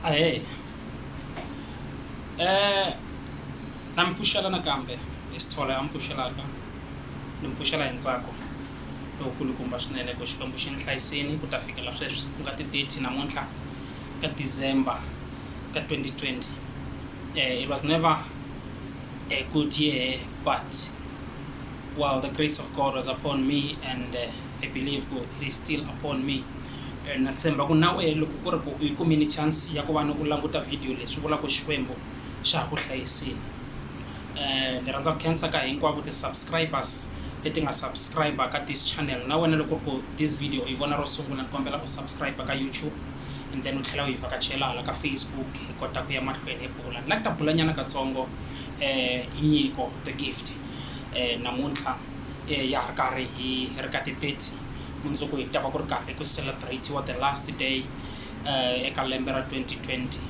Ahee. Eh, na mi pfuxela nakambe i Sithole a mi pfuxelaka ni mi pfuxela hi ntsako lokulukumba swinene ku Xikwembu xi ni hlayisini ku ta fikela sweswi ku nga ti-thirty namuntlha ka December ka twenty twenty. Eh, it was never a good year but while the grace of God was upon me and eh, I believe ku it is still upon me. Na tshemba ku na wehe loko ku ri ku u yi kumile chance ya ku va ni u languta video leyi, swi vula ku Xikwembu xa ha ku hlayisile. Ni rhandza ku khensa ka hinkwavo ti-subscribers leti nga subscriber ka this channel. Na wena loko ku ri ku this video u yi vona ro sungula, ni kombela u subscriber ka YouTube and then u tlhela u hi vhakachela hala ka Facebook hi kota ku ya mahlweni hi bula. Ni lava ku ta bulanyana katsongo hi nyiko, the gift, namuntlha ya ha ri karhi hi ri ka ti-thirty. mundzuku hi ta va ku ri karhi ku celebrate-iwa the last day eka lembe ra 2020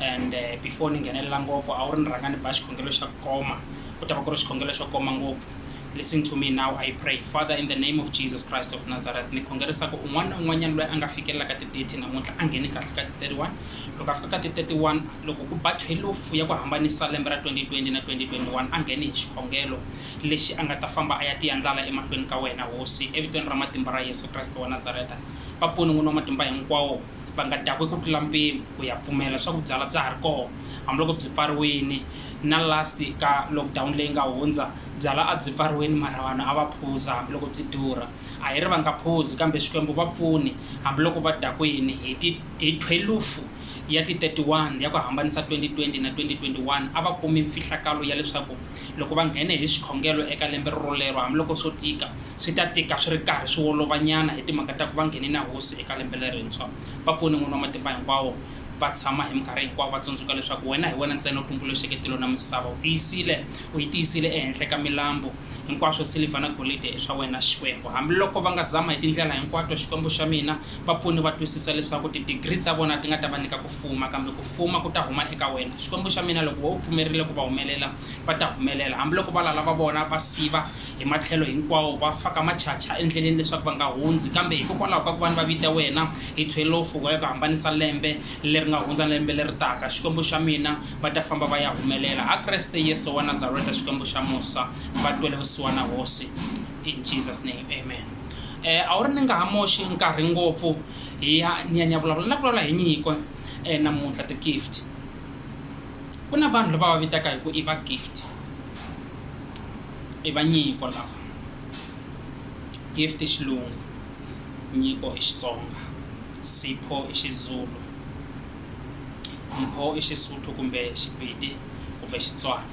and before ni nghenelela ngopfu a wu ri ni rhanga ni ba xikhongelo xa ku koma ku ta va ku ri xikhongelo xo koma ngopfu listen to me now i pray father in the name of jesus christ of nazareth ni khongerisa ku un'wana na un'wanyana loyi a nga fikelelaka ti-30 namuntlha a ngheni kahle ka ti-31 loko a fika ka ti-31 loko ku ba 12 ya ku hambanisa lembe ra 2020 na 2021 a ngheni hi xikhongelo lexi a nga ta famba a ya tiya ndlala emahlweni ka wena, Hosi, evitweni ra matimba ra Yesu Kreste wa Nazareta, vapfuni n'wini wa matimba hinkwawo, va nga dakwe ku tlula mpimo, ku ya pfumela leswaku byala bya ha ri kona, hambiloko byi pfariwini, na last ka lockdown leyi nga hundza, byala a byi pfariwini mara vanhu a va phuza hambiloko byi durha, a hi ri va nga phuzi kambe Xikwembu vapfuni hambiloko va dakwini hi ti hi thwelufu ya ti 31 ya ku hambanisa 2020 na 2021 a va kumi mfihlakalo ya leswaku Loko va nghene hi xikhongelo eka lembe rorolero, hambiloko swo tika, swi ta tika swi ri karhi swi wolovanyana hi timhaka ta ku va nghene na Hosi eka lembe lerintshwa. Va pfune, N'wini wa Matimba Hinkwawo, va tshama hi minkarhi hinkwawo va tsundzuka leswaku Wena hi wena ntsena u tumbuluxeke tilo na misava. U tiyisile, u yi tiyisile ehenhla ka milambu. Hinkwaswo, silivha na golidi, i swa Wena, Xikwembu. Hambiloko va nga zama hi tindlela hinkwato, Xikwembu xa mina, Vapfuni va twisisa leswaku tidigri ta vona ti nga ta va nyika ku fuma, kambe ku fuma ku ta huma eka wena. Xikwembu xa mina, loko wena u pfumerile ku va humelela, va ta humelela. Hambiloko valala va vona va siva hi matlhelo hinkwawo, va faka machacha endleleni leswaku va nga hundzi, kambe hikokwalaho ka ku va ni va vita wena hi thwelofu wa ya ku hambanisa lembe leri nga hundza na lembe leri taka, Xikwembu xa mina, va ta famba va ya humelela. Ha Kreste Yesu wa Nazareta, Xikwembu xa musa, va twele vusiwana Hosi. In Jesus name, amen. e, a wu ri ni nga ha moxi nkarhi ngopfu hi ya ni ya ni ya vulavula na vulavula hi nyiko e, namuntlha ti-gift ku na vanhu lava va vitaka hi ku i va gift i va nyiko lava gift i xilungu nyiko i xitsonga sipho i xizulu mpho i xisuthu kumbe xipedi kumbe xitswana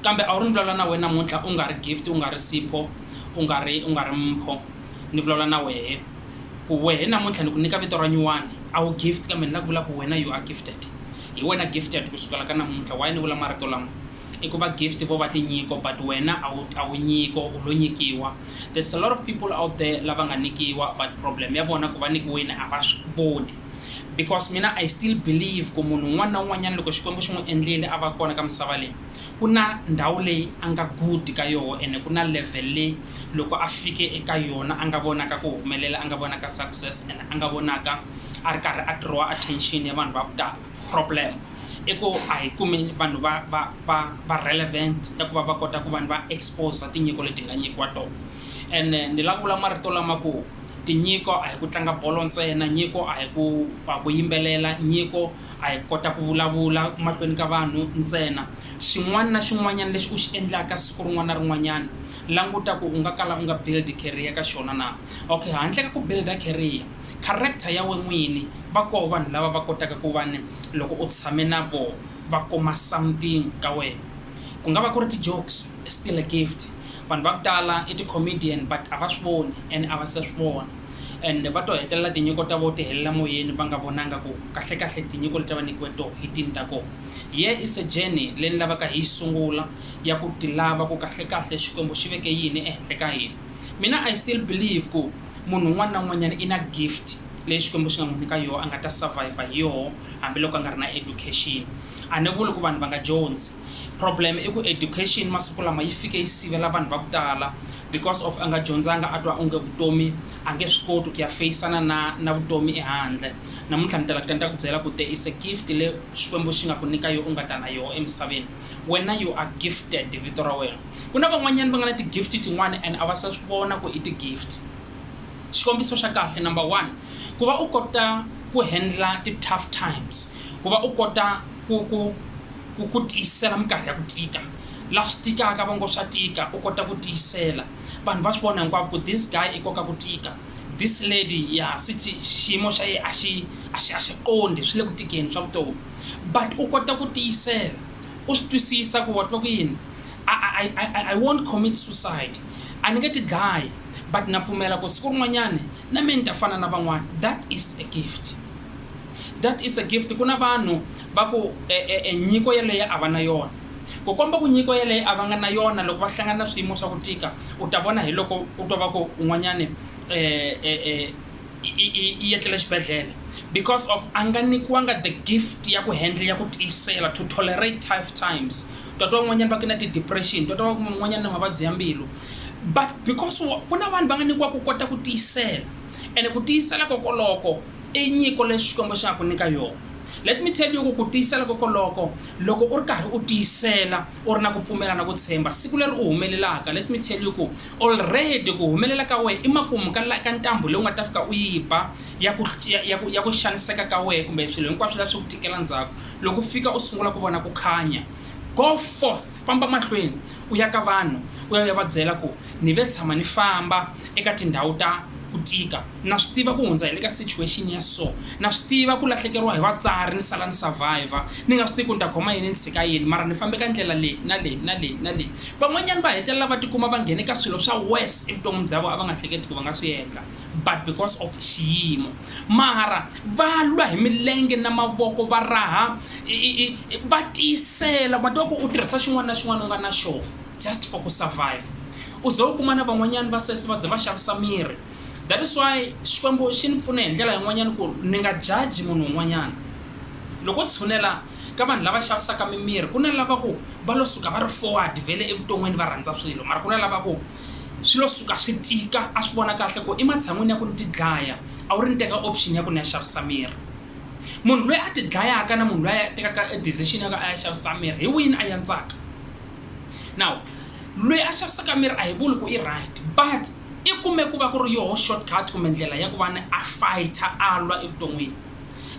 Kambe a wu ri ni vulavula na wehe namuntlha u nga ri Gift u nga ri Sipho u nga ri u nga ri Mpho ni vulavula na wehe ku wehe namuntlha ni ku nyika vito ra nyuwani a wu Gift kambe ni la ku vula ku wena you are Gifted hi wena Gifted ku sukela ka namuntlha why ni vula marito lama i ku va Gift vo va tinyiko but wena a wu a wu nyiko u lo nyikiwa there's a lot of people out there lava nga nikiwa but problem ya vona ku va nikiwini a va swi voni Because mina I still believe ku munhu un'wana na un'wanyana loko Xikwembu xi n'wi endlile a va kona ka misava leyi, ku na ndhawu leyi a nga good ka yoho ene ku na level leyi loko a fike eka yona a nga vonaka ku humelela, a nga vonaka success ene a nga vonaka a ri karhi a draw attention ya vanhu va ku tala. Problem i ku a hi kumi vanhu va va va va relevant ta ku va va kota ku va ni va exposer tinyiko leti hi nga nyikiwa tona. Ene ni la ku vula marito lama ku Tinyiko a hi ku tlanga bolo ntsena, nyiko a hi ku a ku yimbelela, nyiko a hi ku kota ku vulavula mahlweni ka vanhu ntsena. Xin'wana na xin'wanyana lexi u xi endlaka siku rin'wana na rin'wanyana, languta ku u nga kala u nga build career ka xona na. Okay, handle ka ku build career, character ya wena n'wini, va koho vanhu lava va kotaka ku va ni loko u tshame na vona va kuma something ka wena. Ku nga va ku ri ti-jokes, still a gift. Vanhu va ku tala i ti comedian but a va swi voni and a va se swi vona and va to hetelela tinyiko ta vo ti helela moyeni va nga vonanga ku kahle kahle tinyiko leti a va nyikiwe toho hi tini ta koho. Yeah it's a journey leyi ni lavaka hi yi sungula ya ku ti lava ku kahle kahle Xikwembu xi veke yini ehenhla ka hina. Mina I still believe ku munhu un'wana na un'wanyana i na gift leyi Xikwembu xi nga n'wi nyika yoho a nga ta survive hi yoho hambi loko a nga ri na education. A ni vuli ku vanhu va nga dyondzi. Problem i ku education masiku lama yi fike yi sivela vanhu va ku tala because of a nga dyondzanga a twa onge vutomi a nge swi koti ku ya feyisana na na vutomi ehandle. Namuntlha ni ta la ku ta ni ta ku byela ku there is a gift le Xikwembu xi nga ku nyika yo u nga ta na yoho emisaveni. Wena you are gifted vito ra wena. Ku na van'wanyana va nga na ti-gift tin'wana and a va se swi vona ku i ti-gift. Xikombiso xa kahle number one, ku va u kota ku handle ti-tough times, ku va u kota ku ku. Ku ku tiyisela minkarhi ya ku tika. Laha swi tikaka va ngo swa tika, u kota ku tiyisela. Vanhu va swi vona hinkwavo ku this guy i koka ku tika. This lady, ya swi ti xiyimo xa yehe a xi a xi a xi qondi, swi le ku tikeni swa vutomi. But u kota ku tiyisela, u swi twisisa ku wa twa ku yini, I I I I I won't commit suicide. A ni nge ti dlayi, but na pfumela ku siku rin'wanyani na mehe ni ta fana na van'wana. That is a gift. That is a gift. Ku na vanhu va ku, E-e-e, nyiko yeleyo a va na yona. Ku komba ku nyiko yeleyo a va nga na yona loko va hlangana na swiyimo swa ku tika, u ta vona hi loko u twa va ku un'wanyani e-e-e i i i etlele xibedlhele because of a nga nikiwanga the gift ya ku handle, ya ku tiyisela, to tolerate tough times. Ta twa un'wanyani va ku i na ti-depression, ta twa va ku un'wanyani i na mavabyi ya mbilu but because wa ku na vanhu va nga nikiwa ku kota ku tiyisela ene ku tiyisela kokoloko, I nyiko leyi Xikwembu xa ha ku nyika yona. Let me tell you ku ku tiyisela kokoloko, loko u ri karhi u tiyisela, u ri na ku pfumela na ku tshemba, siku leri u humelelaka, let me tell you ku already ku humelela ka wehe i makumu ka la ka ntambu leyi u nga ta fika u yi ba ya ku ya ya ku ya ku xaniseka ka wehe kumbe swilo hinkwaswo la swi ku tikela ndzhaku loko u fika u sungula ku vona ku khanya. Go forth, famba mahlweni u ya ka vanhu u ya u ya va byela ku Ni ve tshama ni famba eka tindhawu ta ku tika. Na swi tiva ku hundza hi le ka situation ya so. Na swi tiva ku lahlekeriwa hi vatswari ni sala ni surviver ni nga swi tivi ku ni ta khoma yini ni tshika yini mara ni fambe ka ndlela leyi na leyi na leyi na leyi. Van'wanyana va hetelela va tikuma va nghene ka swilo swa worse evuton'wini bya vona a va nga hleketi ku va nga swi endla but because of xiyimo. Mara va lwa hi milenge na mavoko va raha va tiyisela ma tiva ku u tirhisa xin'wana na xin'wana u nga na xona. just for ku survive u ze u kuma na van'wanyana va sesi va ze va xavisa miri that is why xikwembu xi ni pfune hi ndlela yin'wanyana ku ni nga jaji munhu un'wanyana loko tshunela ka vanhu lava xavisaka mimiri ku na lava ku va lo suka va ri forward vele evuton'wini va rhandza swilo mara ku na lava ku swi lo suka swi tika a swi vona kahle ku ematshan'wini ya ku ni ti dlaya a wu ri ni teka option ya ku ni ya xavisa miri munhu loyi a ti dlayaka na munhu loyi a tekaka decision ya ku a ya xavisa miri hi wini a yantswaka now lweyi a xavisaka miri a hi vuli ku i right but i kume ku va ku ri yoho shortcut kumbe ndlela ya ku va ni a fighter a lwa evuton'wini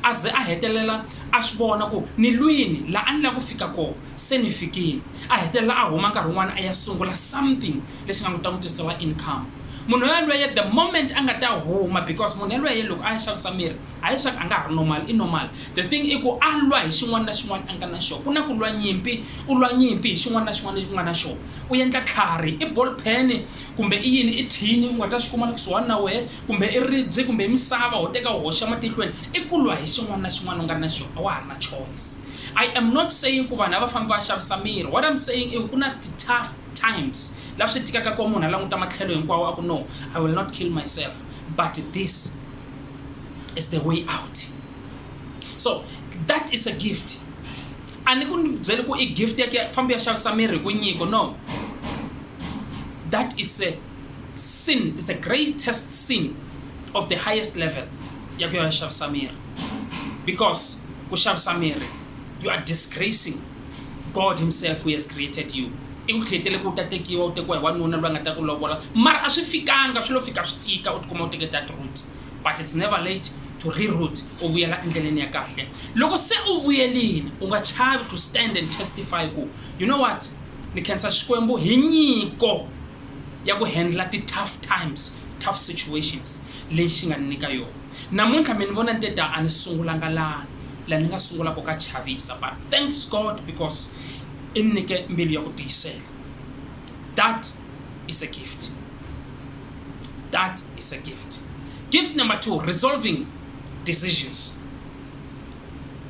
a ze a hetelela a swi vona ku ni lwini laha a ni lava ku fika kona se ni fikile a hetelela a huma nkarhi wun'wana a ya sungula something lexi nga n'wi ta n'wi tisela income munhu yalweye the moment a nga ta huma because munhu yalweye loko a ya xavisa miri A hi swaku a nga ha ri normal, i normal. The thing i ku a lwa hi xin'wana na xin'wana a nga na xoho. Ku na ku lwa nyimpi, u lwa nyimpi hi xin'wana na xin'wana lexi u nga na xoho. U endla tlhari, i ball pen kumbe i yini, i thini u nga ta xi kuma la kusuhani na wehe, kumbe i ribye kumbe i misava ho teka u hoxa matihlweni, i ku lwa hi xin'wana na xin'wana u nga na xoho, a wa ha ri na choice. I am not saying ku vanhu a va fambi va ya xavisa miri, what I'm saying i ku ku na ti tough times la swi tikaka koho munhu a languta matlhelo hinkwawo a ku no, I will not kill myself but this. is the way out so that is a gift a ni ku ni byele ku i gift ya ke fambi ya xavisa miri hi ku nyiko no that is a sin is the greatest sin of the highest level ya ku ya xavisa miri because ku xavisa miri you are disgracing God himself who has created you i ku createle ku u ta tekiwa u tekiwa hi wanuna loyi a nga ta ku lovola mara a swi fikanga swi lo fika swi tika u tikuma u teke that root but it's never late to reroot u vuyela endleleni ya kahle loko se u vuyelini u nga chavi to stand and testify ku you know what ni khensa xikwembu hi nyiko ya ku handla ti-tough times tough situations leyi xi nga ni nyika yona Namuntlha mi ni vona ni te ta a ni sungulanga lani la ni nga sungula ko ka chavisa but thanks God because i ni nike mbilu ya ku tiyisela that is a gift that is a gift gift number two resolving decisions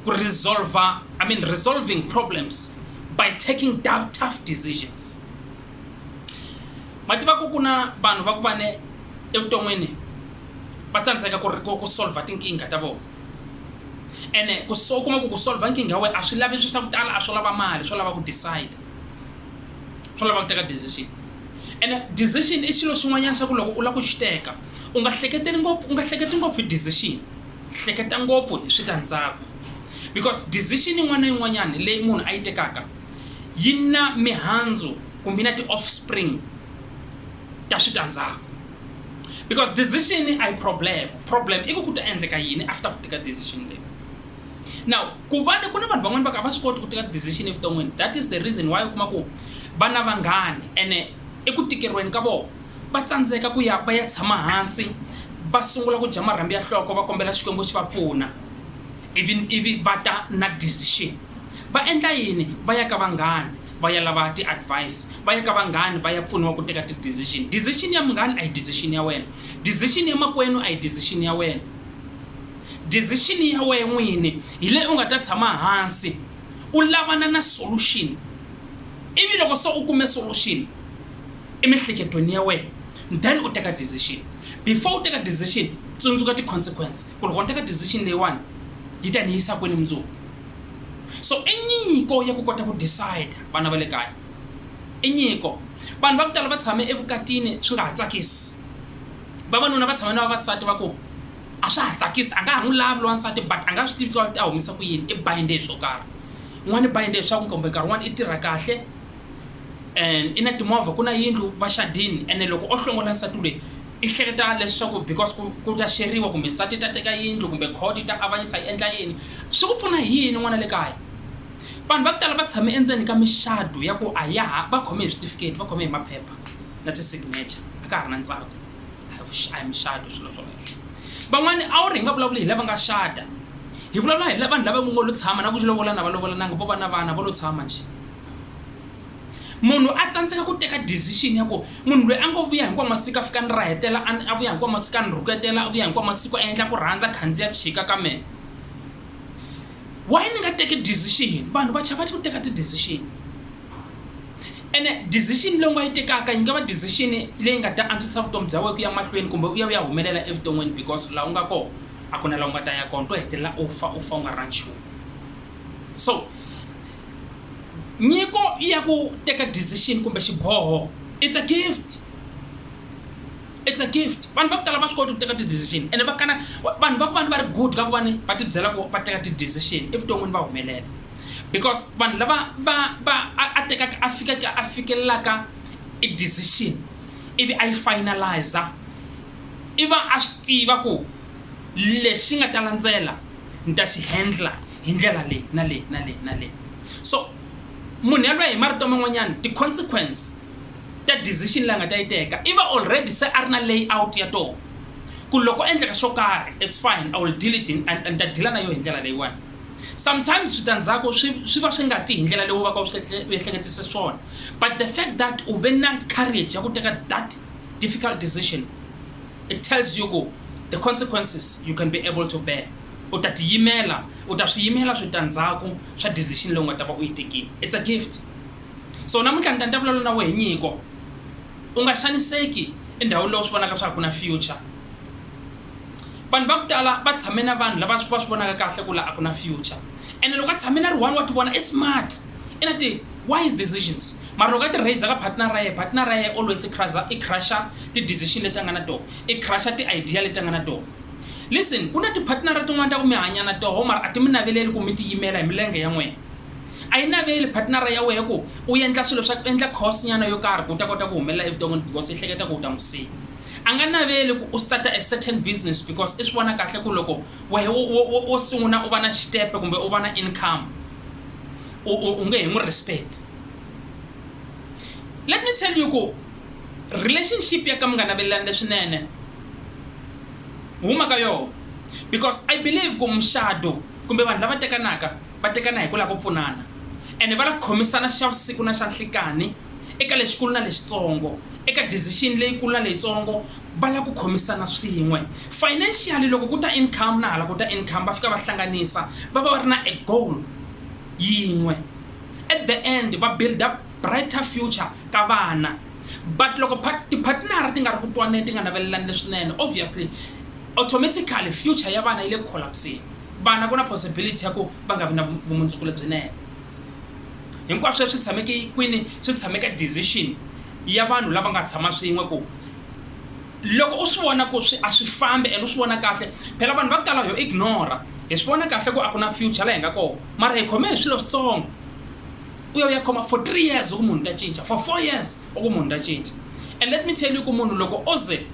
ku resolver I mean resolving problems by taking down tough decisions mativa ku ku na vanhu va ku va ne evuton'wini va tsandzeka ku ri ku ku solver tinkingha ta vona ene ku so kuma ku ku solver nkingha ya wena a swi lavi swi swa ku tala a swo lava mali swo lava ku decide swo lava ku teka decision ene decision i xilo xin'wanyana xa ku loko u lava ku xi teka u nga hleketeli ngopfu u nga hleketi ngopfu hi decision hleketa ngopfu hi switandzhaku because decision yin'wana na yin'wanyana leyi munhu a yi tekaka yi na mihandzu kumbe yi na ti-offspring ta switandzhaku because decision a yi problem problem i ku ku ta endleka yini after ku teka decision leyi now ku va ni ku na vanhu van'wana va ka va swi koti ku teka decision evuton'wini that is the reason why u kuma ku va na vanghani ene eku tikeriweni ka vona va tsandzeka ku ya va ya tshama hansi va sungula ku dya marhambi ya nhloko va kombela xikwembu xi va pfuna even ivi va ta na decision va endla yini va ya ka vanghani va ya lava ti-advice va ya ka vanghani va ya pfuniwa ku teka ti-decision decision ya munghani a hi decision ya wena decision ya makwenu a hi decision ya wena decision ya wena n'wini hi leyi u nga ta tshama hansi u lavana na solution ivi loko se u kume solution emihleketweni ya wena then u teka decision before u teka decision tsundzuka ti-consequence ku loko ni teka decision leyiwani yi ta ni yisa kwini mundzuku So i nyiko ya ku kota ku decide, vana va le kaya. I nyiko. Vanhu va ku tala va tshame evukatini swi nga ha tsakisi. Vavanuna va tshame na vavasati va ku, a swa ha tsakisi, a nga ha n'wi lavi lowansati but a nga swi tivi ku a humesa ku yini, i bind-e hi swo karhi. N'wana i bind-e hi swa ku kumbe nkarhi wun'wana i tirha kahle, and i na timovha ku na yindlu va xadini ene loko o hlongola nsati lweyi i hleketa leswaku because ku ku ta xeriwa kumbe nsati ta teka yindlu kumbe court yi ta avanyisa yi endla yini swi ku pfuna hi yini n'wana le kaya vanhu va ku tala va tshame endzeni ka mixado ya ku a ya ha va khome hi switifiketi va khome hi maphepha na ti-signature a ka ha ri na ntsako a hi vuxi- a hi muxado swilo swoleswo van'wani a wu ri hi nga vulavuli hi lava nga xada hi vulavula hi la- vanhu lava ngo lo tshama na ku lovola na va lovolananga vo va na vana vo lo tshama njhe munhu a tsandzeka ku teka decision ya ku munhu loyi a ngo vuya hinkwa masiku a fika ni ra hetela a vuya hinkwa masiku a ni rhuketela a vuya hinkwa masiku a endla ku rhandza khandziya chika ka mehe why ni nga teki decision vanhu va chava ku teka ti-decision ene decision leyi nga yi tekaka yi nga va decision leyi nga ta antswisa vutomi bya wena ku ya mahlweni kumbe u ya u ya humelela evuton'wini because laha u nga kona a ku na laha u nga ta ya kona to hetelela u fa u fa u nga ri na nchumu so nyiko ya ku teka decision kumbe xiboho it's a gift it's a gift vanhu va ku tala va swi koti ku teka ti-decision ene va kana vanhu va ku vanhu va ri good ka ku vani va tibyela ku va teka ti-decision evuton'wini va humelela because vanhu lava va va a tekaka a fikaka a fikelelaka i decision ivi a yi finalizer i va a swi tiva ku lexi nga ta landzela ni ta xi handler. hi ndlela leyi na leyi na leyi na leyi so munhu yaloye hi marito man'wanyana ti-consequence ta decision leyi a nga ta yi teka i va already se a ri na layout ya toho ku loko endleka swo karhi it's fine i will deal it ni ta dila na yo hi ndlela leyiwani sometimes switandzhaku swi swi va swi nga ti hi ndlela leyi u va ka u ehleketise swona but the fact that u ve na courage ya ku teka that difficult decision it tells you ku the consequences you can be able to bear U ta tiyimela, u ta swi yimela switandzhaku swa decision leyi u nga ta va u yi tekile. It's a gift. So namuntlha ni ta ni ta vulavula na wehe hi nyiko. U nga xaniseki endhawini leyi u swi vonaka swa ku a ku na future. Vanhu va ku tala va tshame na vanhu lava va swi vonaka kahle ku la a ku na future ene loko a tshame na ri one wa tivona i smart, i na ti-wise decisions mara loko a ti raiser ka partner ra yena, partner ra yena always i i crush-a ti-decision leti a nga na tona, i crush-a ti-idea leti a nga na tona. Listen, ku na tiphatnara tin'wana ta ku mi hanya na toho mara a ti mi naveleli ku mi tiyimela hi milenge ya n'wina. A yi naveli phatnara ya wehe ku u endla swilo swa ku endla course nyana yo karhi ku u ta kota ku humelela evuton'wini because i hleketa ku u ta n'wi siya. A nga naveli ku u starta a certain business because i swi vona kahle ku loko wehe wo sungula u va na xitepe kumbe u va na income u nge he n'wi respect. Let me tell you ku relationship ya ka mi nga navelelani leswinene huma ka yona because i believe ku muxado kumbe vanhu lava tekanaka va tekana hi ku lava ku pfunana ene va la khomisana xa vusiku na xa nhlikani eka lexikulu na lexitsongo eka decision leyikulu na leyitsongo va la ku khomisana swin'we financially loko ku ta income na hala ku ta income va fika va hlanganisa va va va ri na a goal yin'we at the end va build up Brighter Future ka vana. But loko part, tiphatinara ti nga ri ku twaneni, ti nga navelelani leswinene, obviously, automatically future ya vana yi le ku collapseni. Vana ku na possibility ya ku va nga vi na vumundzuku lebyinene. Hinkwaswo leswi tshameke kwini swi tshameka decision ya vanhu lava nga tshama swin'we ku loko u swi vona ku swi a swi fambi and u swi vona kahle phela vanhu va ku tala ho ignora hi swi vona kahle ku a ku na future la hi nga kona mara hi khome hi swilo switsongo u ya u ya khoma for three years u ku munhu ta cinca for four years u ku munhu ta cinca and let me tell you ku munhu loko o ze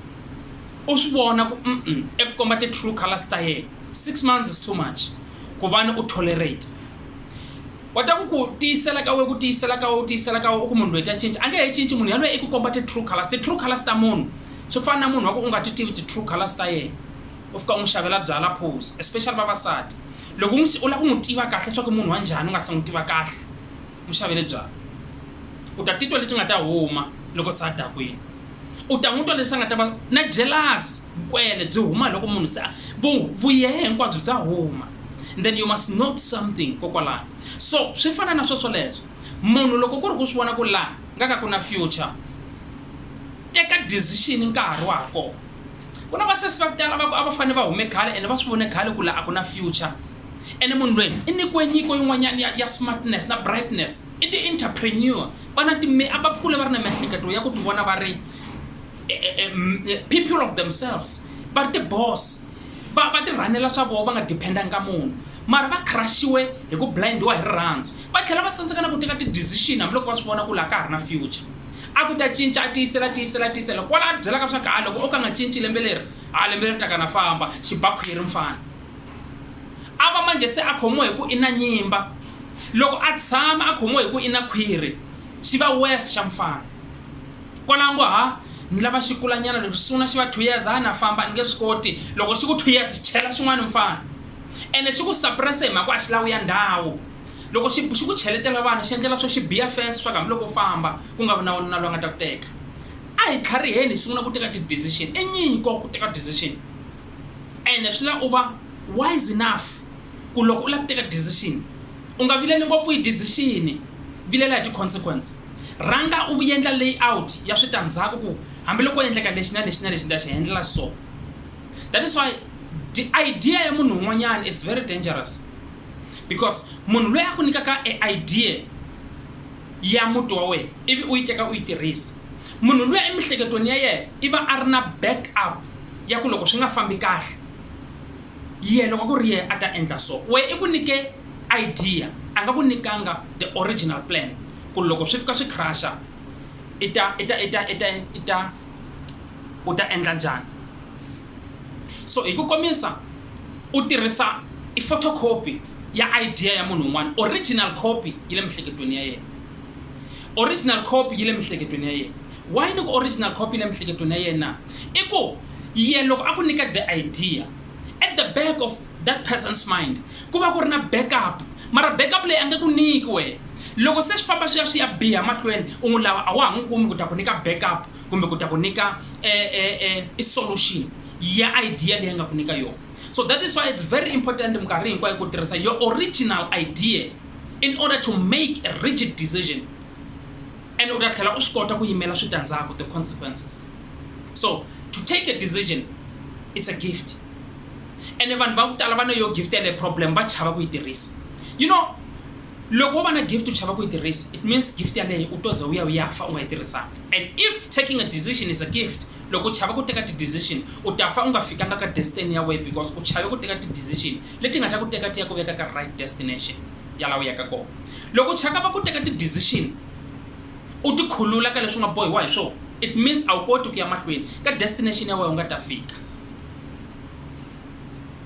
u swi vona ku mm eku komba ti-true colors ta yena six months is too much ku vani u tolerate wa ta ku ku tiyisela ka we ku tiyisela ka we u tiyisela ka we u ku munhu loyi ta cinca a nge he cinci munhu yaloye i ku komba ti-true colors ti-true colors ta munhu swi fana na munhu wa ku u nga ti tivi ti-true colors ta yena u fika u n'wi xavela byala cause especially vavasati loko n'wi u lava ku n'wi tiva kahle leswaku i munhu wa njhani u nga se n'wi tiva kahle n'wi xavele byala u ta titwa leti nga ta huma loko se a dakwini u ta n'wi twa leswi a nga ta va na jealous vukwele byi huma loko munhu se vuyehe hinkwabyo bya huma then you must note something kokwalano so swi fana na sweswo leswo munhu loko ku ri ku swi vona ku laha nga ka ku na future teka decision nkarhi wa ha kona Ku na vasesi va ku tala va ku a va fanele va hume khale ene va swi vone khale ku laha a ku na future. Ene munhu loyi i nyikiwe nyiko yin'wanyana ya, ya smartness na brightness. I ti-entrepreneur. Va na ti a va kule va ri na miehleketo ya ku ti vona va ri e, e, e, e, people of themselves. Va ri ti-boss. Va, va tirhanela swa vona va nga dependanga ka munhu. Mara va crushiwe hi ku blindiwa hi rirhandzu. Va tlhela va tsandzeka na ku teka ti-decision hambiloko va swi vona ku laha ka ha ri na future. A ku ta cinca, a tiyisela, tiyisela, tiyisela, kwala a byelaka swa ku, ha, loko o ka a nga cinci lembe leri, ha, lembe leri taka na famba, xibakhwiri mfana. A va manje se a khomiwa hi ku i na nyimba. Loko a tshama a khomiwa hi ku i na khwiri, xi va worse xa mfana. Kwala a ngo, ha, ni lava xikulanyana lexi sungula xi va two years, ha, na famba, ni nge swi koti. Loko xi ku two years, chela xin'wana mfana. Ene xi ku suppress-e hi mhaka ku a xi lavi u ya ndhawu. Loko xi xi ku cheletela vana xi endlela swo xi biya fence swa ku hambiloko u famba ku nga vi na wanuna loyi a nga ta ku teka. A hi tlhariheni hi sungula ku teka ti-decision. I nyiko ku teka decision ene swi lava u va wise enough ku loko u lava ku teka decision u nga vileli ngopfu hi decision, vilela hi ti-consequence. Rhanga u endla layout ya switandzhaku ku hambiloko ko endleka lexi na lexi na lexi ni ta xi endlela so. That is why idea ya munhu un'wanyana it's very dangerous. because munhu loyi a ku nyikaka e idea ya muti wa wena ivi u yi teka u yi tirhisa munhu luya emihleketweni ya yena i va a ri na back up ya ku loko swi nga fambi kahle ye loko ku ri yena a ta endla so we i ku nyike idea a nga ku nyikanga the original plan ku loko swi fika swi crusha i ta i ta i ta i ta i ta u ta endla njhani so hi ku komisa u tirhisa i photocopy ya idea ya munhu un'wana original copy yi le mihleketweni ya yena original copy yi le mihleketweni ya yena why ni ku original copy yi le mihleketweni ya yena i ku ye loko a ku nyika the idea at the back of that person's mind ku va ku ri na backup mara backup leyi a nge ku nyiki wena loko se swi famba swi ya swi ya biha mahlweni u n'wi lava a wa ha n'wi kumi ku ta ku nyika backup kumbe ku ta ku nyika e, e, e, i solution ya idea leyi nga ku nyika yona so that is why it's very important minkarhi hinkwayo ku tirhisa your original idea in order to make a rigid decision and u ta tlhela u swi kota ku yimela switandzhaku the consequences so to take a decision it's a gift ene vanhu va ku tala va ne yo gift yale problem va chava ku yi tirhisa you know Loko wo va na gift u chava ku yi tirhisa, it means gift yaleyo u to za u ya u ya fa u nga yi tirhisanga. And if taking a decision is a gift, loko u chava ku teka ti decision, u ta fa u nga fikanga ka destiny ya wehe because u chave ku teka ti decision leti nga ta ku teka ti ya ku veka ka right destination ya laha u yaka kona. Loko u chakava ku teka ti decision u ti khulula ka leswi u nga bohiwa hi swona, it means a wu koti ku ya mahlweni ka destination ya wehe u nga ta fika.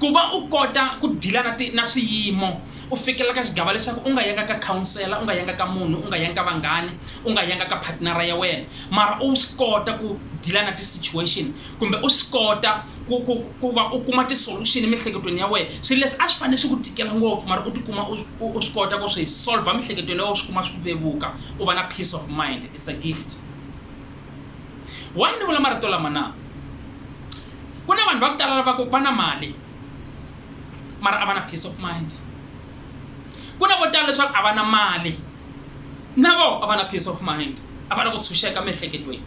Ku va u kota ku dila na ti na swiyimo u fikelela ka xigava lexaku u nga yanga ka khaonsela, u nga yanga ka munhu, u nga yanga ka vanghani, u nga yanga ka phatnara ya wena, mara u swi kota ku dila na ti situation kumbe u swi kota ku ku ku va u kuma ti solution emiehleketweni ya wehe. Swilo leswi a swi fanele swi ku tikela ngopfu mara u ti kuma u u swi kota ku swi solver emiehleketweni ya wehe u swi kuma swi vevuka u va na peace of mind it's a gift. Why ni vula marito lama na? Ku na vanhu va ku tala lavaka va na mali mara a va na peace of mind. Ku na vo tala leswaku a va na mali na voho a va na peace of mind, a va na ku tshunxeka emiehleketweni.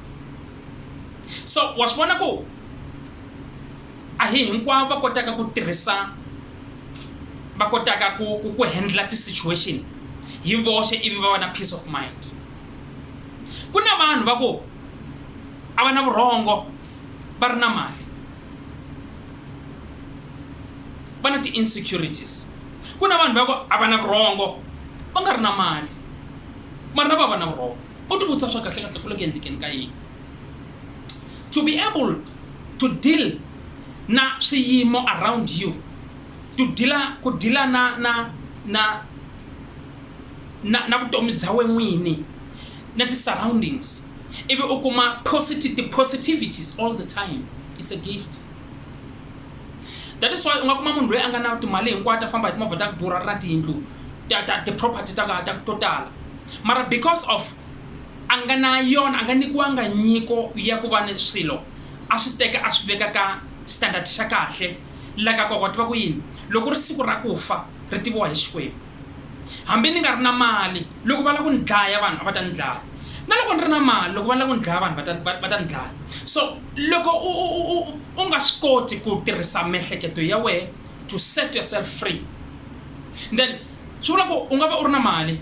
So wa swi vona ku a hi hinkwavo va kotaka ku tirhisa va kotaka ku ku ku handle ti-situation hi voxe ivi va va na peace of mind. Ku na vanhu va ku a va na vurhongo va ri na mali va na ti insecurities ku na vanhu va ku a va na vurhongo va nga ri na mali mara na va va na vurhongo u tivutisa swa kahle kahle ku le ku endlekeni ka yini to be able to deal na swiyimo around you to deala ku deala na na na na na vutomi bya we n'wini na ti surroundings ivi u kuma posit ti positivities all the time it's a gift that is why u nga kuma munhu loyi a nga na timali hinkwato a famba hi timovha ta ku durha ri na tiyindlu ta ta ti-property ta ta to tala mara because of a nga na yona a nga nyikiwanga nyiko ya ku va ni swilo a swi teka a swi veka ka standard xa kahle la ka koko tiva ku yini loko ri siku ra ku fa ri tiviwa hi xikwembu hambi ni nga ri na mali loko va lava ku ni dlaya vanhu a va ta ni dlaya na loko ni ri na mali loko va lava ku ni dlaya vanhu va ta va ta ni dlaya so loko u u u u u nga swi koti ku tirhisa miehleketo ya wehe to set yourself free then swi vula ku u nga va u ri na mali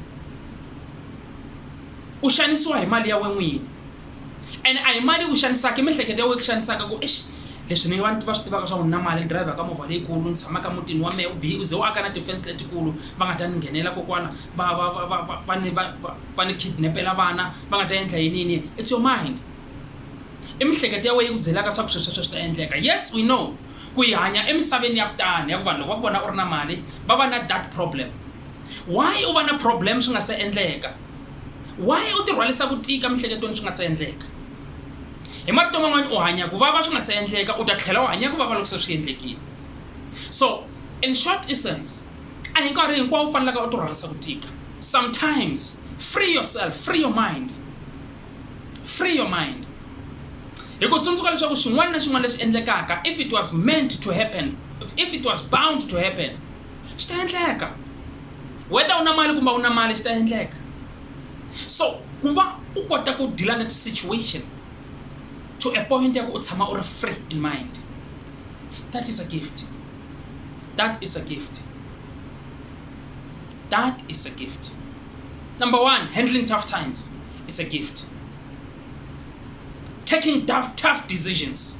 u xanisiwa hi mali ya we n'wini ene a hi mali yi ku xanisaka i miehleketo ya wena yi ku xanisaka ku exi leswi ni vanhu va swi tivaka swa ku na mali ni dirayivhaka movha leyikulu ni tshamaka mutini wa mehe u bihi u ze u aka na tifense letikulu va nga ta ni nghenela kokwana va va va va va va ni va va ni kidnapela vana va nga ta endla yini yini yini it's your mind i miehleketo ya wena yi ku byelaka swa ku sweswo sweswi ta endleka yes we know ku yi hanya emisaveni ya kutani ya ku vanhu loko va ku vona u ri na mali va va na that problem why u va na problem swi nga se endleka Why u tirhwarisa ku tika emihleketelweni swi nga se endleka? Hi marito man'wana u hanya ku vava swi nga se endleka u ta tlhela u hanya ku vava loko se swi endlekile. So in short essence a hi nkarhi hinkwawo u fanelaka u tirhwarisa ku tika. Sometimes free yourself, free your mind, free your mind. Hi ku tsundzuka leswaku xin'wana na xin'wana lexi endlekaka if it was meant to happen, if it was bound to happen, swi ta endleka whether u na mali kumbe a wu na mali swi ta endleka so ku va u kota ku deal-a na ti-situation to a point ya ku u tshama u ri free in mind that is a gift that is a gift that is a gift number one handling tough times is a gift taking tough, tough decisions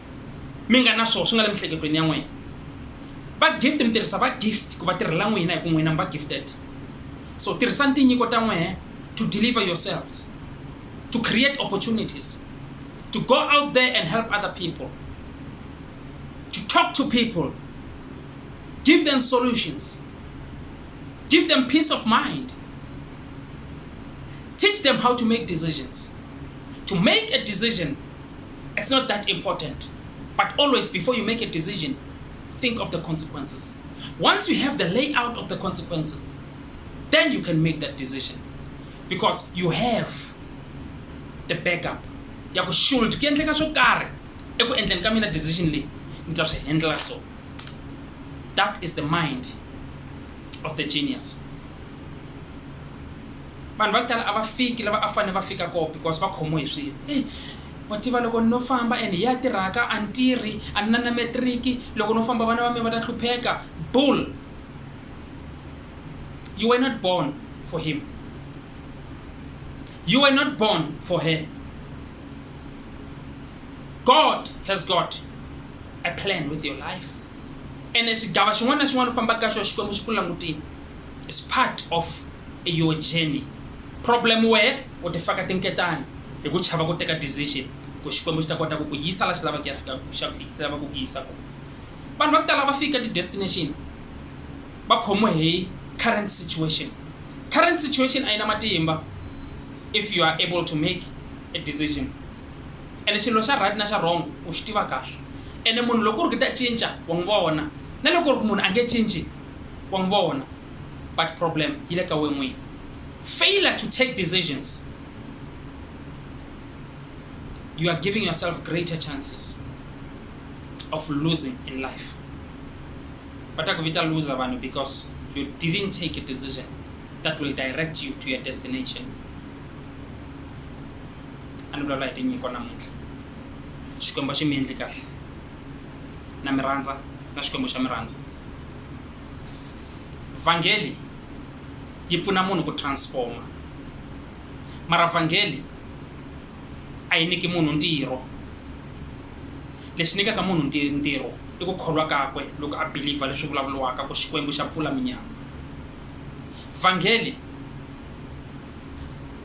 mi nga na swona swi nga le miehleketweni ya n'wina va gift mi tirhisa va gift ku va tirhela n'wina hi ku n'wina mi va gifted so tirhisani tinyiko ta n'wehe to deliver yourselves to create opportunities to go out there and help other people to talk to people give them solutions give them peace of mind teach them how to make decisions to make a decision it's not that important. But always before you make a decision, think of the consequences. Once you have the layout of the consequences, then you can make that decision. Because you have the backup. ya ku shul ku endleka swo karhi eku endleni ka mina decision leyi ni ta swi handla so that is the mind of the genius vanhu va ku tala a va fiki lava a fanele va fika koo because va khomiwe hi swilo Wa tiva loko ni no famba and hi ya tirhaka a ni tirhi a ni na na matric loko no famba vana va me va ta hlupheka bull you were not born for him you were not born for her God has got a plan with your life ene xigava xin'wana na xin'wana u fambaka ka xona Xikwembu xi ku langutile. It's part of your journey. Problem wehe u ti faka tinketani hi ku chava ku teka decision ku Xikwembu xi ta kota ku ku yisa la xi lava ku ya fika xi lava ku ku yisa kona. Vanhu va ku tala va fika ti destination va khomiwe hi current situation. Current situation a yi na matimba if you are able to make a decision. ene xilo xa right na xa wrong u xi tiva kahle ene munhu loko ku ri ku ta cinca wa n'wi vona na loko ku ri ku munhu a nge cinci wa n'wi vona but problem yi le ka we n'wini failure to take decisions you are giving yourself greater chances of losing in life va ta ku vita loser vanhu because you didn't take a decision that will direct you to your destination a ni vulavula hi tinyiko namuntlha Xikwembu a xi mi endli kahle na mi rhandza na Xikwembu xa mi rhandza vhangeli yi pfuna munhu ku transforma mara vhangeli a yi nyiki munhu ntirho lexi nyikaka munhu ntirho i ku kholwa kakwe loko a believer leswi vulavuriwaka ku Xikwembu xa pfula minyama vhangeli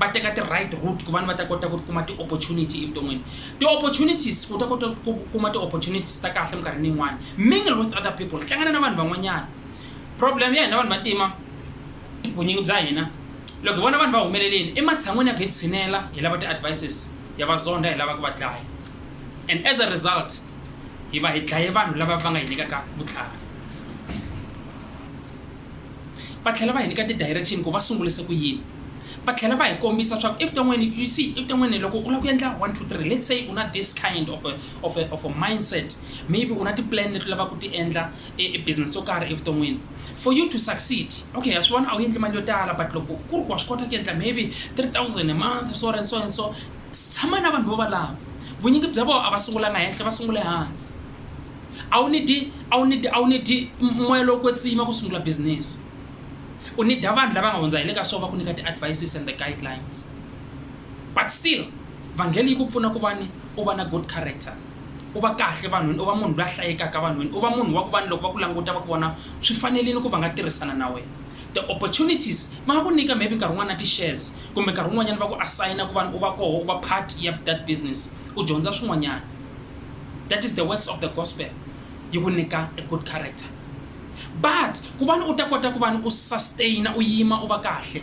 va teka ti-right route ku vani va ta kota ku kuma ti-opportunity evuton'wini ti-opportunities ku ta kota ku kuma ti-opportunities ta kahle minkarhini yin'wana mingle with other people hlangana na vanhu van'wanyana problem ya hina vanhu vantima vunyingi bya hina loko hi vona vanhu va humeleleni ematshan'wini ya ku hi tshinela hi lava ti-advices ya vazondha hi lava ku va dlaya and as a result hi va hi dlaye vanhu lava va nga hi nyikaka vutlhari va tlhela va hi nyika ti-direction ku va sungulise ku yini, va tlhela va hi kombisa swa ku evuton'wini you see evuton'wini loko u lava ku endla one, two, three let's say u na this kind of a of a of a mindset maybe u na ti-plan leti u lavaka ku ti endla e e business yo karhi evuton'wini for you to succeed okay ha swi vona a wu endli mali yo tala but loko ku ri ku wa swi kota ku endla maybe three thousand a month so and so and so tshama na vanhu vo valava vunyingi bya vona a va sungulanga henhla va sungule hansi. A wu need-i, a wu need-i, a wu need-i moya lowo kwetsima ku sungula business. U need-a vanhu lava nga hundza hi le ka swona va ku nyika ti-advices and the guidelines. But still, vhangeli yi ku pfuna ku va ni, u va na good character. U va kahle vanhwini, u va munhu loyi a hlayekaka vanhwini, u va munhu wa ku va ni loko va ku languta va ku vona swi fanerile ku va nga tirhisana na wena. Ti-opportunities, va nga ku nyika maybe nkarhi wun'wana na ti-shares, kumbe nkarhi wun'wanyana va ku assign-a ku va ni, u va koho, u va part ya that business, u dyondza swin'wanyana. that is the works of the gospel yi ku nyika a good character but ku vani u ta kota ku vani u sustaina u yima u va kahle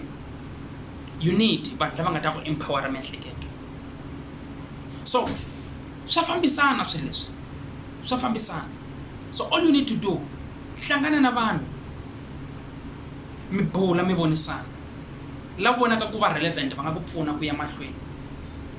you need vanhu lava nga ta ku empowera miehleketo so swa fambisana swilo leswi swa fambisana so all you need to do hlangana na vanhu mi bula mi vonisana lava vonaka ku va relevant va nga ku pfuna ku ya mahlweni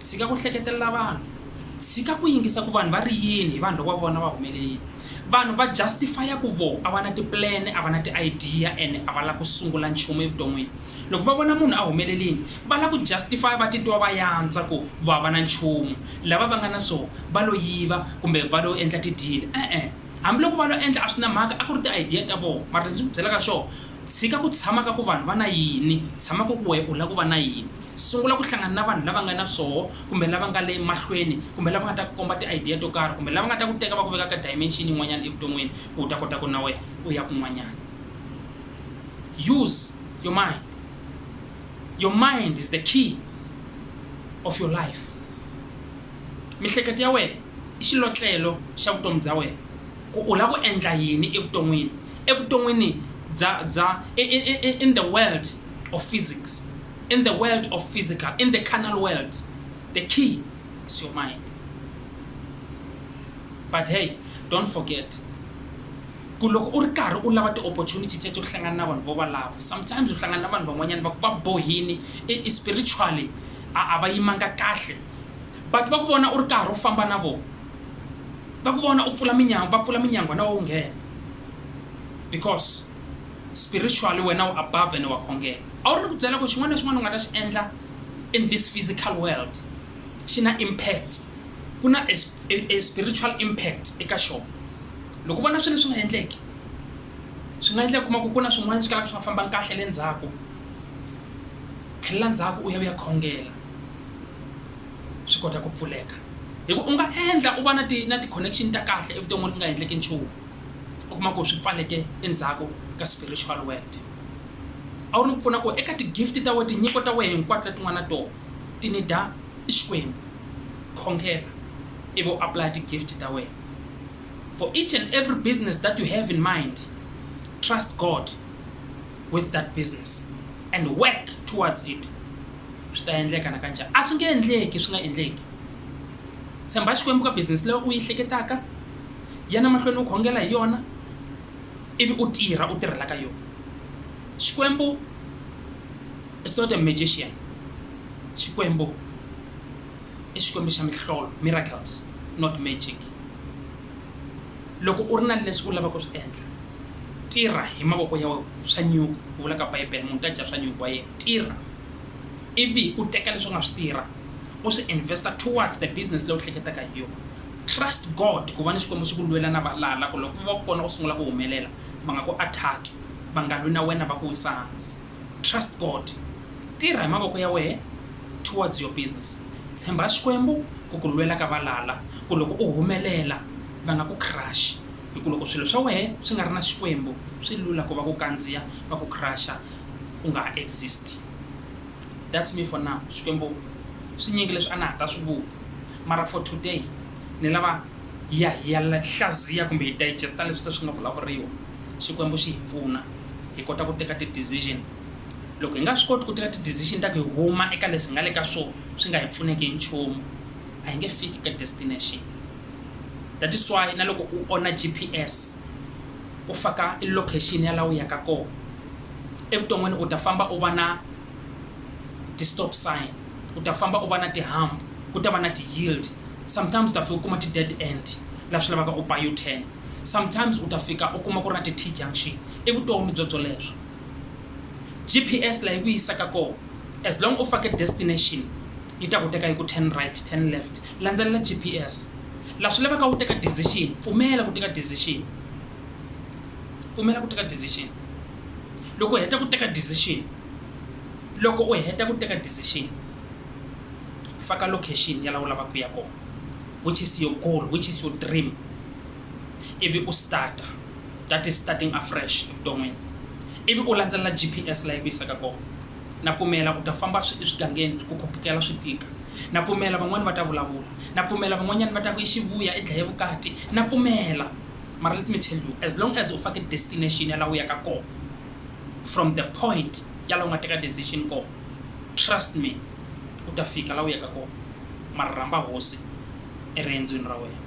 Tshika ku hleketelela vanhu. Tshika ku yingisa ku vanhu va ri yini hi vanhu loko va vona va humelelile. Vanhu va justify-a ku vo a va na ti-plan, a va na ti-idea ene a va la ku sungula nchumu evuton'wini. Loko va vona munhu a humelelini, va la ku justify-a va titwa va yantswa ku vo a va na nchumu. Lava va nga na swo va lo yiva kumbe va lo endla ti-deal. E-e. Hambi loko va lo endla a swi na mhaka, a ku ri ti-idea ta vo. Mara lexi ndzi ku byelaka xo, tshika ku tshama ka ku vanhu va na yini, tshama ku ku wehe u la ku va na yini. Sungula ku hlangana na vanhu lava nga na swoho kumbe lava nga le mahlweni kumbe lava nga ta ku komba ti-idea to karhi kumbe lava nga ta ku teka va ku veka ka dimension yin'wanyana evuton'wini ku u ta kota ku na wehe u ya kun'wanyana. Use your mind. Your mind is the key of your life. Mihleketo ya wehe i xilotlelo xa vutomi bya wehe ku u lava ku endla yini evuton'wini, evuton'wini bya bya in the world of physics. In the world of physical, in the carnal world, the key is your mind. But hey, don't forget, ku loko u ri karhi u lava ti-opportunity teto u hlangana na vanhu vo va lava sometimes u hlangana na vanhu van'wanyana va ku va bohini e, e spiritually a a va yimanga kahle but va ku vona u ri karhi u famba na vona va ku vona u pfula minyango va pfula minyangwa na wo nghena because spiritually wena u above ene wa khongela. A wu ri ni ku byela ku xin'wana na xin'wana u nga ta xi endla in this physical world xi na impact, ku na a a spiritual impact eka xona. Loko u vona swilo leswi nga endleki, swi nga endleka u kuma ku ku na swin'wana swi kalaka swi nga fambangi kahle le ndzhaku, tlhelela ndzhaku u ya u ya khongela swi kota ku pfuleka. Hi ku u nga endla u va na ti na ti-connection ta kahle evuton'wini ku nga endleki nchumu. u kuma ku swi pfaleke endzhaku ka spiritual world a wu ni ku pfuna ku eka ti-gift ta wena tinyiko ta wena hinkwato leti nga na tona ti ni da i xikwembu khongela ivi u apply ti-gift ta wena for each and every business that you have in mind trust god with that business and work towards it swi ta endleka na kanjani a swi nge endleki swi nga endleki tshemba xikwembu ka business leyi u yi hleketaka Yana mahlweni u khongela hi yona, ivi u tirha u tirhela ka yona. Xikwembu is not a magician, Xikwembu i Xikwembu xa mihlolo, miracles, not magic. Loko u ri na leswi u lavaka ku swi endla, tirha hi mavoko ya wena, swa nyuku, ku vula ka Bibele, munhu u ta dya swa nyuku wa yena. Tirha, ivi u teka leswi u nga swi tirha u swi invest-a towards the business leyi u hleketaka hi yona. Trust God ku va ni Xikwembu xi ku lwela na valala ku loko va ku vona u sungula ku humelela va nga ku attack-i, va nga lwi na wena va ku wisa hansi. Trust God. Tirha hi mavoko ya wehe towards your business. Tshemba Xikwembu ku ku lwela ka valala ku loko u humelela va nga ku crush-i hi ku loko swilo swa wehe swi nga ri na Xikwembu swi lula ku va ku kandziya va ku crush-a u nga ha exist. That's me for now Xikwembu swinyingi leswi a na ha ta swi vula mara for today ni lava hi ya hi ya hlaziya kumbe hi digesta leswi se swi nga vulavuriwa Xikwembu xi hi pfuna hi kota ku teka ti decision loko hi nga swi koti ku teka ti decision ta ku hi huma eka leswi hi nga le ka swo swi nga hi pfuneki hi nchumu a hi nge fiki ka destination that is why na loko u ona GPS u faka i location ya la u ya ka kona. evuton'wini u ta famba u va na ti stop sign, u ta famba u va na ti hump, ku ta va na ti yield, sometimes u ta fika u kuma ti dead end laha swi lavaka u ba u-turn, sometimes u ta fika u kuma ku ri na ti T-junction. I vutomi byo byoleswo. G_P_S laha yi ku yisaka kona as long u fake destination yi ta ku teka yi ku turn right, turn left, landzelela G_P_S. Laha swi lavaka u teka decision pfumela ku teka decision, pfumela ku teka decision. loko u heta ku teka decision loko u heta ku teka decision faka location ya la u lavaka ku ya kona which is your goal which is your dream ivi u starta that is starting afresh evuton'wini ivi u landzelela gps layi ku yisaka kona na pfumela u ta famba eswigangeni ku khupukela swi tika na pfumela van'wani va ta vulavula na pfumela van'wanyani va ta ku yi xivuya i dlaye vukati na pfumela mara let me tell you as long as u fake destination ya la u yaka ko from the point ya la u nga teka decision ko trust me u ta fika la u yaka ko mara rhamba hosi eriendzweni ra wena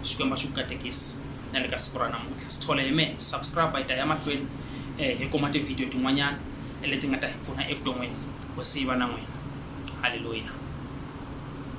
xikwembu xi ku katekisi na le ka siku ra namuntlha sithole hi mehe subscribe hi ta ya mahlweni um hi kuma tivhidiyo tin'wanyana leti nga ta hi pfuna evuton'wini ku siva na n'wina halleluya